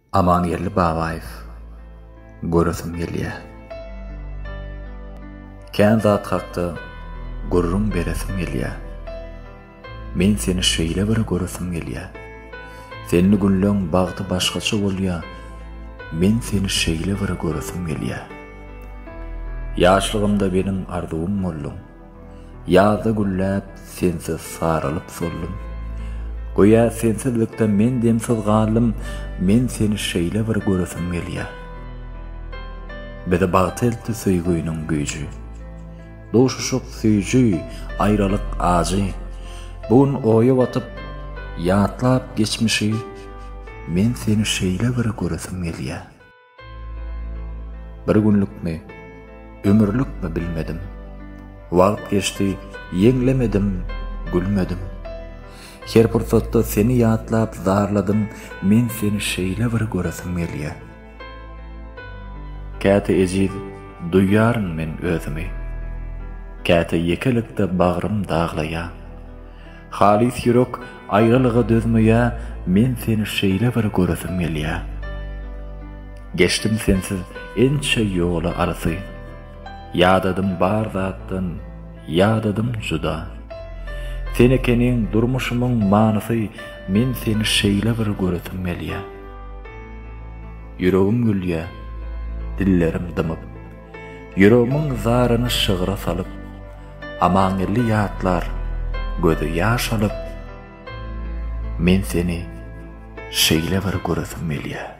Amangeldi Babaýew göresim gelýä. Kän zat hakda gürrüň beresim gelýä. Men seni şeýle bir göresim gelýä. Senli günleň bagty başgaça bolýa. Men seni şeýle bir göresim gelýä. Ýaşlygymda meniň arzuwym bolduň. Ýazda gülläp, sensiz saralyp soldum. Göýä sensizlikde men demsiz galdym, men seni şeýle bir göresim gelýär. Bizi bagta eltdi söýgüniň güýji. Duşuşyk süýji, aýralyk ajy. Bu gün oýa batyp, ýatlap geçmişi, men seni şeýle bir göresim gelýär. Bir günlükmi, ömürlükmi bilmedim, Wagt geçdi, ýeňlemedim, gülmedim. Her pursatda seni ýatlap zarladym, Men seni şeýle bir göresim gelýä. Käte ejiz duýýaryn men özümi, Käte ýekelikde bagrym daglaýa. Halys ýürek aýralyga dözmeýä Men seni şeýle bir göresim gelýä Geçdim sensiz ençe ýoly arsy Ýadadym bar zatdan ýadadym juda Sen ekeniň durmuşymyň manysy Men seni şeýle bir göresim gelýä Ýüregim gülýä dillerim dymyp. Ýüregmiň zaryny şygra salyp, Amangeldi ýatlar, gözi ýaş alyp, Men seni şeýle bir göresim gelýär.